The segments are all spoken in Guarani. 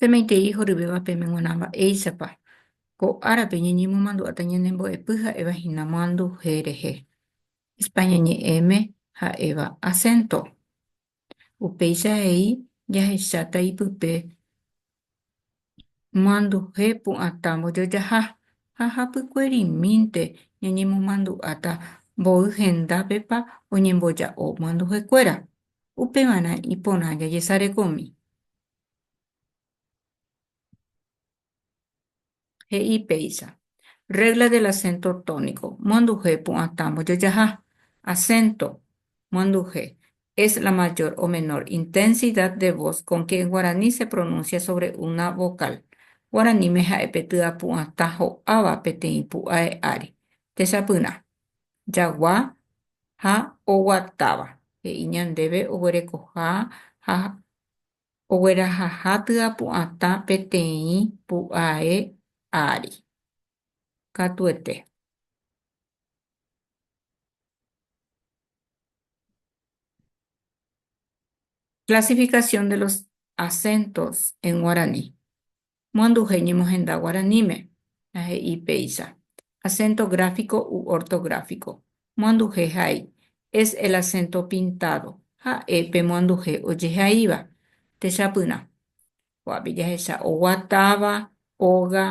Semeitei horyvéva peme g̃uarã mba'éichapa ko árape ñañemomandu'áta ñanembo'epy ha'éva hína moanduhe rehe. España ñe'ẽme ha'éva asénto. Upéicha he'i jahecháta ipype Manduhe pu'atã mbojojaha ha hapykuerimínte ñañemomandu'áta mboy hendápepa oñemboja'o manduhekuéra, upeva'erã iporã jajesarekomi. he'i péicha, Regla del acento tónico, monduhe pu'atã mbojojaha, acento, monduhe, es la mayor o menor intensidad de voz con que en guaraní se pronuncia sobre una vocal, guaraníme ha'e pe tya pu'atã ho'áva peteĩ pu'ae ári, techapyrã, jagua ha oguatáva, he'i ñandéve oguerekoha ha oguerahaha tyapu'atã peteĩ pu'ae ári. Katuete. Clasificación de los acentos en guaraní. moanduhe ñemohenda guaraníme, la he'i péicha, acento gráfico u ortográfico, moanduhe ha'e, es el acento pintado, ha'e pe moanduhe ojehaíva, techapyrã. Ko'ápe jahecha oguatáva, óga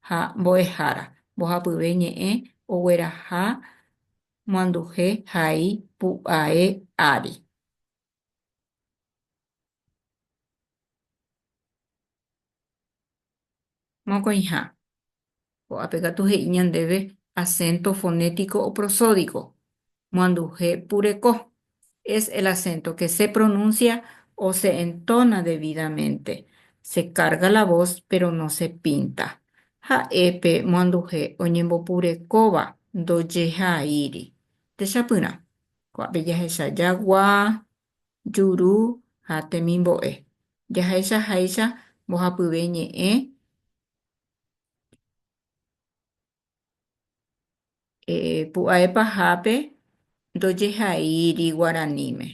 ha mbo'ehára, mbohapyve ñe'ẽ ogueraha moanduhe ha'e pu'ae ári. Mokõiha. Ko'ápe katu he'i ñandéve asénto fonétiko o prosódiko. Moanduhe pureko. Es el asénto ke se pronúnsia o se entóna devídamente. Se kárga la vos, péro no se pínta. Ha'e pe moanduhe oñembopurekóva ndojehaíri. Techapyrã. Ko'ápe jahecha jagua, juru ha temimbo'e. Jahecha háicha mbohapyve ñe'ẽ pu'ae pahápe ndojehaíri guaraníme,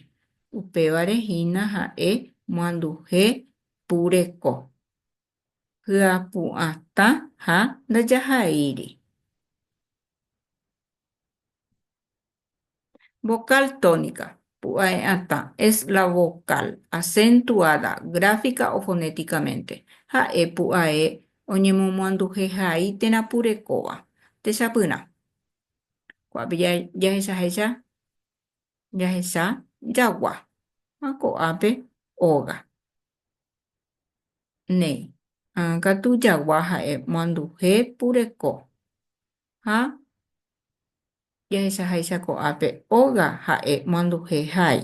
upévare hína ha'e moanduhe pu reko, hyapu'atã ha ndajahaíri. Vocal tónica, pu'ae atã, es la vocal acentuada gráfica o fonéticamente, ha'e pu'ae oñemomoanduhe hai térã purekóva. Techapyrã. Ko'ápe jahechahecha jahecha jagua ha ko'ápe óga. Néi. Katu jagua ha'e moanduhe pureko ha Jahechaháicha ko'ápe óga ha'e manduhe hái.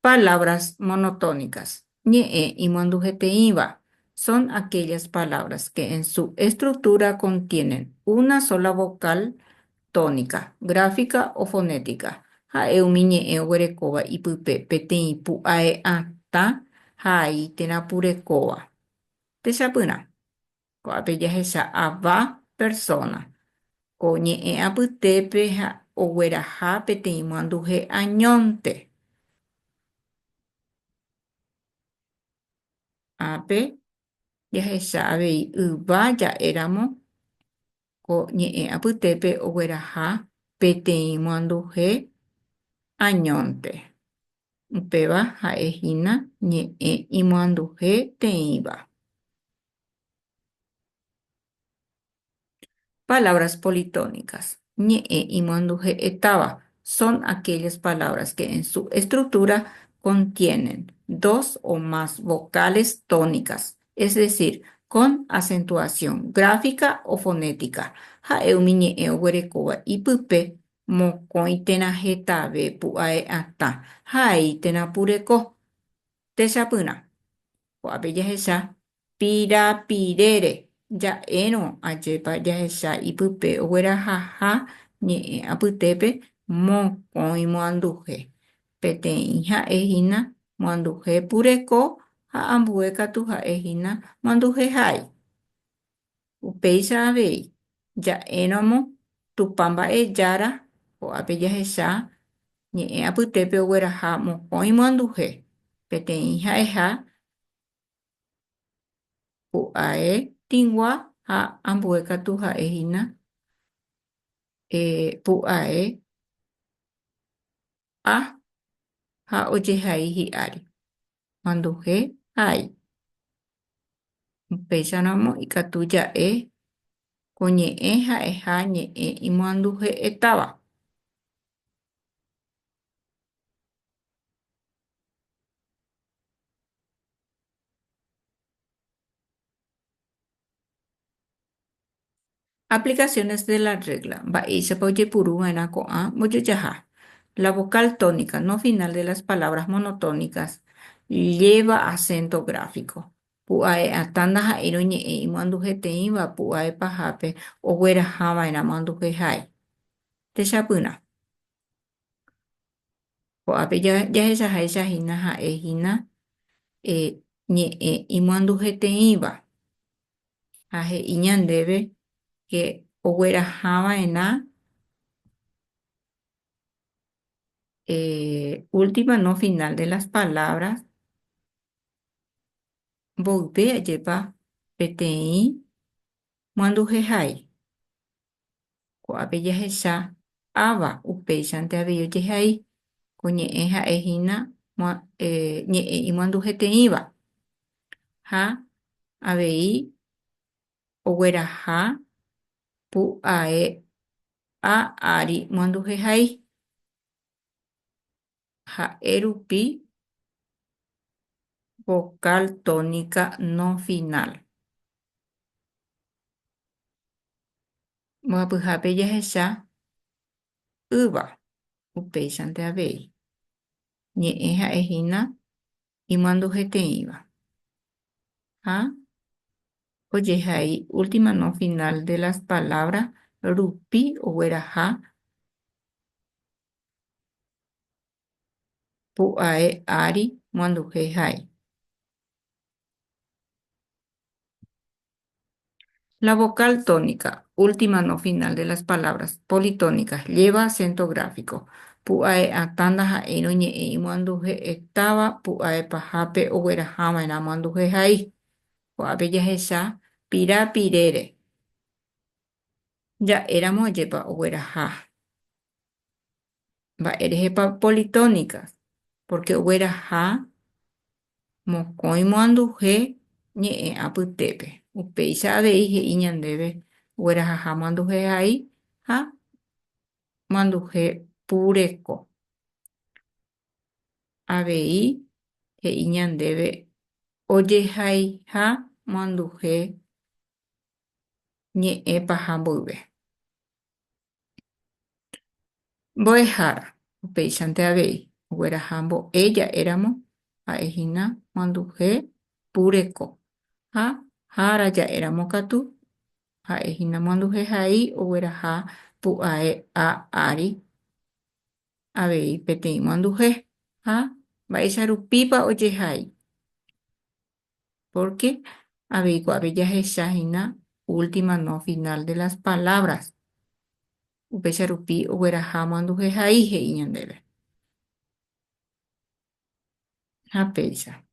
Palabras monotónicas, ñe'ẽ imanduheteĩva, son aquellas palabras que en su estructura contienen una sola vocal tónica, gráfica o fonética, ha'e umi ñe'ẽ oguerekóva ipype peteĩ pu'ae atã hái térã purekóva. Techapyrã. Ko'ápe jahecha ava persóna ko ñe'ẽ apytépe ha ogueraha peteĩ moanduhe añónte. Ápe jahecha avei yva ja'éramo ko ñe'ẽ apytépe ogueraha peteĩ moanduhe añónte. Upéva ha'e hína ñe'ẽ imoanduhe teĩva. Palabras politónicas, ñe'ẽ imanduhe'ẽ táva, son aquellas palabras que en su estructura contienen dos o más vocales tónicas, es decir, con acentuación gráfica o fonética, ha'e umi ñe'ẽ oguerekóva ipype mokõi térã hetave pu'ae atã ha aĩ térã pureko techapyrã. Ko'ápe jahecha pirapirére ja'érõ ajépa jahecha ipype oguerahaha ñe'ẽ apytépe mokõi moanduhe. Peteĩ ha'e hína moanduhe pureko ha ambue katu ha'e hína moanduhe ha'ái. Upéicha avei, ja'érõmo Tupã mba'e Jára ko'ápe jahecha ñe'ẽ apytépe ogueraha mokõi moanduhe, peteĩ ha'eha pu'ae tĩgua ha ambue katu ha'e hína pu'ae ha ha ojehai hi'ári. manduhe ha'ai. Upéicharõ amo ikatu ja'e ko ñe'ẽ ha'eha ñe'ẽ imoanduhe'etáva. Aplicaciones de la regla, Mba'éichapa ojepuru va'erã ko'ã mbojojaha? La vocal tónica no final de las palabras monotónicas lleva acento gráfico. Pu'ae atã ndaha'éirõ ñe'ẽ imoandujeteĩva pu'ae pahápe ogueraha va'erã moanduje ha'e. Techapyrã. Ko'ápe jahechaháicha hína ha'e hína ñe'ẽ imoandujeteĩva. ha he'i ñandéve ke oguerahava'erã última no final de las palabras mboype ajépa peteĩ manduhehai Ko'ápe jahecha Áva upéichante avei ojehai ko ñe'ẽ ha'e hína ñe'ẽ imoanduheteĩva, ha avei ogueraha pu'ae'a ári moanduhehai. ha'e rupi vocal tónica no final. Mbohapyhápe jahecha ýva, upéichante avei, ñe'ẽ ha'e hína imanduheteĩva, ha ojehai última no final de las palabras rupi ogueraha Pu'ae ári moanduhe ha'e. La vocal tónica, última no final de las palabras, politónicas, lleva acento gráfico. Pu'ae atã ndaha'éirõ ñe'ẽ imoanduhe'e táva pu'ae pahápe oguerahãva'erã moanduhe hai. Ko'ápe jahecha pira pirére. Ja'éramo ajépa ogueraha. Mba'érehepa politónika? Pórke ogueraha mokõi moanduhe ñe'ẽ apytépe. Upéicha avei he'i ñandéve oguerahaha moanduhehai ha moanduhe pureko. Avei he'i ñandéve ojehaiha moanduhe ñe'ẽ paha mboyve. Mbo'ehára, upéichante avei, ogueraha mbo'e ja'éramo ha'e hína manduhe pureko, ha hára ja'éramo katu, ha'e hína manduhe hai ogueraha pu'ae a ári avei peteĩ manduhe. Ha mba'éicha rupípa ojehai? pórke avei guave jahecha hína última no final de las palabras, upéicha rupi ogueraha omanduhe hai he'i ñandéve. Ha péicha.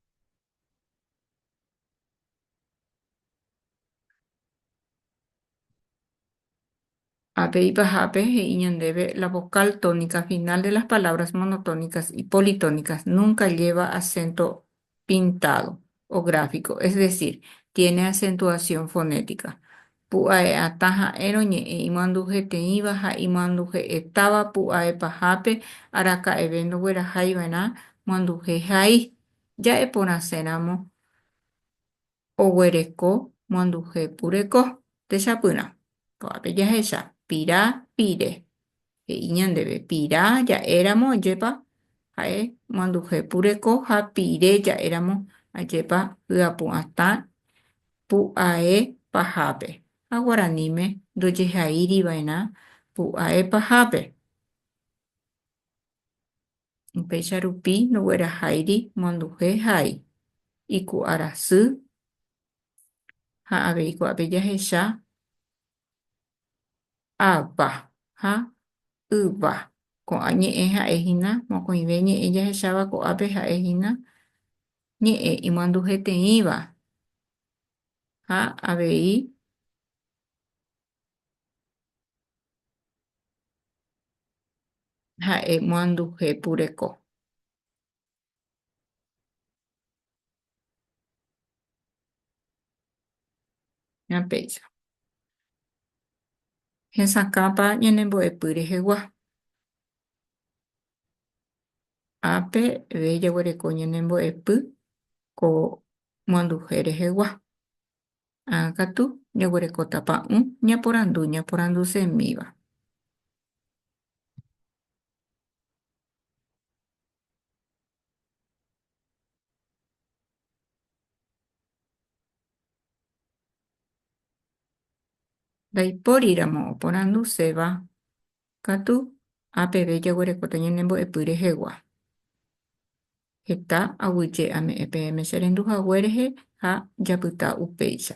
Ha pe ipahápe he'i ñandéve la vocal tónica final de las palabras monotónicas y politónicas nunca lleva acento pintado o gráfico, es decir, tiene acentuación fonética. Pu'ae'atã ha'érõ ñe'ẽ imoandujeteĩva ha imoanduje'etáva pu'ae pahápe araka'eve ndogueraháiva'erã moanduje hai, ja'eporãséramo Oguereko moanduhe pureko. Techapyrã. Ko'ápe jahecha, pira, pire. He'i ñandéve, pira ja'éramo ajépa ha'e moanduhe pureko ha pire ja'éramo ajépa hyapu'atã pu'ae pahápe. Ha guaraníme ndojehaíriva'erã pu'ae pahápe. Upéicha rupi ndogueraháiri monduhe ha'e iku'arasy ha avei kuápe jahecha ava ha yva. Ko'ã ñe'ẽ ha'e hína mokõive ñe'ẽ jahecháva ko'ápe ha'e hína ñe'ẽ imanduheteĩva ha avei Ha'e moanduje pureko. Péicha. Hesakãpa ñanembo'epy rehegua. Ápe ve jaguereko ñanembo'epy ko moanduje rehegua. Ã katu, jaguerekóta pa'ũ ñaporandu ñaporandusemíva. Ndaipóriramo oporanduseva Katu, ha peve jaguerekóta ñanembo'epy rehegua. Heta aguyje ame'ẽ peẽme che rendu hague rehe ha japyta upéicha.